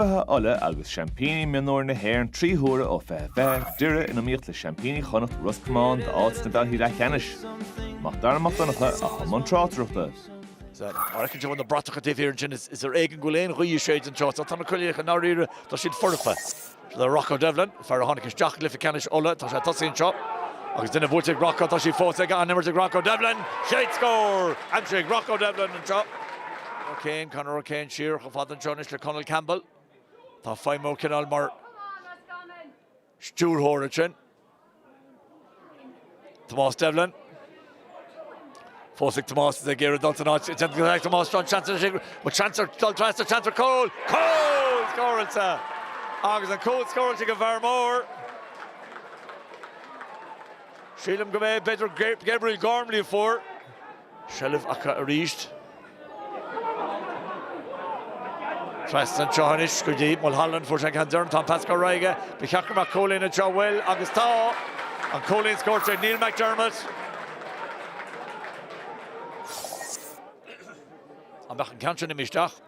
Beatha Uladh agus seaimpíní mionúir na hÉireann trí huaire ó fiche fiche Doire in iomaíocht le seaimpíní Chonnacht Ros Comáin d'áit sna cluichí leathcheannais, Mac Dara Mac Donncha, atá i mbun tráchtaireachta. Is mar a fheiceann tú ó na bratacha taobh thiar ansin, is ar éigean go bhfuil aon ghaoth ag séideadh anseo. Tá na coinníollacha i ndáiríre, tá siad foirfe le Rocco Devlin. Fear a tháinig isteach i gcluiche ceannais Uladh, tá sé ag tosaí anseo agus duine buailte ag Rocco, tá sí fós aige, an-imirt ag Rocco Devlin, chéad scór! Aimsithe ag Rocco Devlin anseo. O'Kane, Conor O'Kane siar chomh fada anseo anois le Conall Campbell. Atá ag feidhmiú cineál mar stiúrthóir ansin. Tomás Devlin. Fós ag Tomás is ag iarraidh dul san áit déanta go ag Tomás seo seans ansin go seansa dul trasna seans ar chúl. Cúl scóráilte agus an cúl scóráilte ag an bhfear mór. Sílim gurb é b'fhéidir Gabriel Gormley a fuair seilbh acu arís. Trasna anseo anois go dtí Mulholland, fuair sé an ceann deireanach, tá spás go leor aige, ba cheart go mbeadh cúilín anseo, bhuel, agus tá! An cúilín scóráilte ag Neil McDermott. An mbeadh an ceann sin imithe isteach?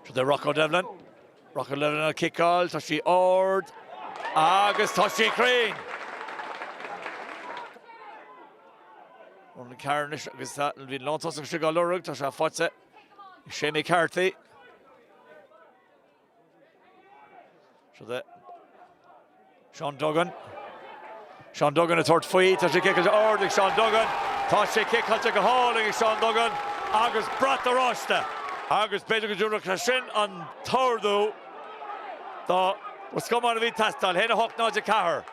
Seo é Rocco Devlin. Rocco Devlin á ciceáil, tá sí ard agus tá sí cruinn! Ronan Carr anois agus bhí an lántosach istigh á lorg, tá sé faighte ag Séamie Carthy. Seo é. Seán Duggan. Seán Duggan ag tabhairt faoi. Tá sé ciceáilte ard ag Seán Duggan. Tá sé ciceáilte go hálainn ag Seán Duggan agus brat oráiste. Agus b'fhéidir go dtabharfadh sé sin an t-ardú do Ros Comáin a bhí ag teastáil. 1 8, 0 4.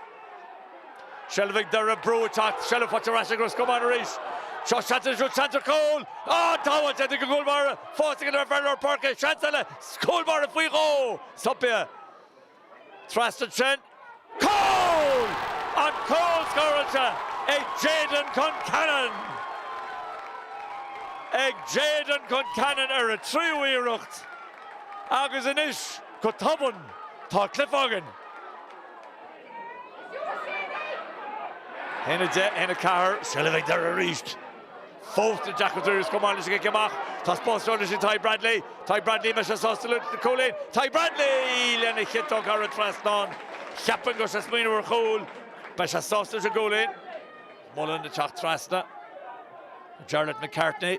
Seilbh ag Doire, brú ag teacht, seilbh faighte ar ais ag Ros Comáin arís. Seo seans anseo, seans ar chúl! Á, sábháilte ag an gcúlbáire, fós ag an bhfear lár páirce, seans eile, cúlbáire faoi dhó! Stop é! Trasna ansin, cúl! An cúl scóráilte ag Jayden Concannon! Ag Jayden Concannon ar a tríú iarracht agus anois go tobann tá cluiche againn. 1-10, 1-4, seilbh ag Doire arís. Fós i dtaca dtús chomh maith leis an gcic amach, tá spás go leor leis ag Tadhg Bradley. Tadhg Bradley, An mbeidh sé sásta leis an gcúilín. Tadhg Bradley! Lena chiotóg thar an trasnán, cheapfainn go raibh sé ag smaoineamh ar chúl. Beidh sé sásta leis an gcúilín. Mullen ag teacht trasna. Jarlath McCartney.